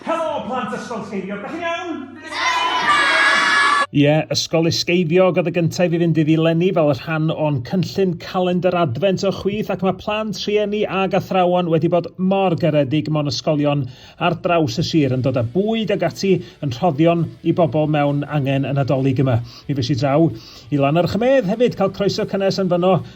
Helo, plant Ysgol Sgeifiog, da chi'n iawn? Ie, Ysgol Isgeifiog oedd y gyntaf i fynd iddi lenni fel y rhan o'n cynllun calendr adfent o chwith ac mae plant, rhieni ag athrawon wedi bod mor garedig mewn ysgolion ar draws y sir yn dod â bwyd ag ati yn rhoddion i bobl mewn angen y Nadolig yma. Mi fes i draw i Lannerch y Medd hefyd cael croeso cynnes yn fyno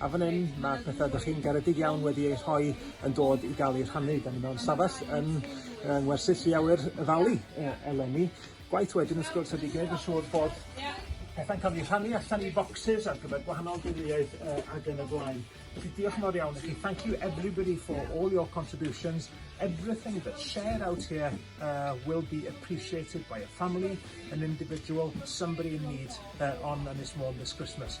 A fan hyn, mae'r pethau ydych chi'n garedig iawn wedi eu rhoi yn dod i gael eu rhannu. Da ni mewn stafell yn uh, ngwersyll Llu Awyr y Ddali uh, eleni. Gwaith wedyn wrth gwrs ydy gwneud yn siŵr bod pethau'n cael eu rhannu allan i boxes ar gyfer gwahanol deuluoedd uh, ac yn y blaen. Felly diolch mor iawn i chi. Thank you everybody for all your contributions. Everything that's shared out here uh, will be appreciated by a family, an individual, somebody in need uh, on Ynys Môn this Christmas.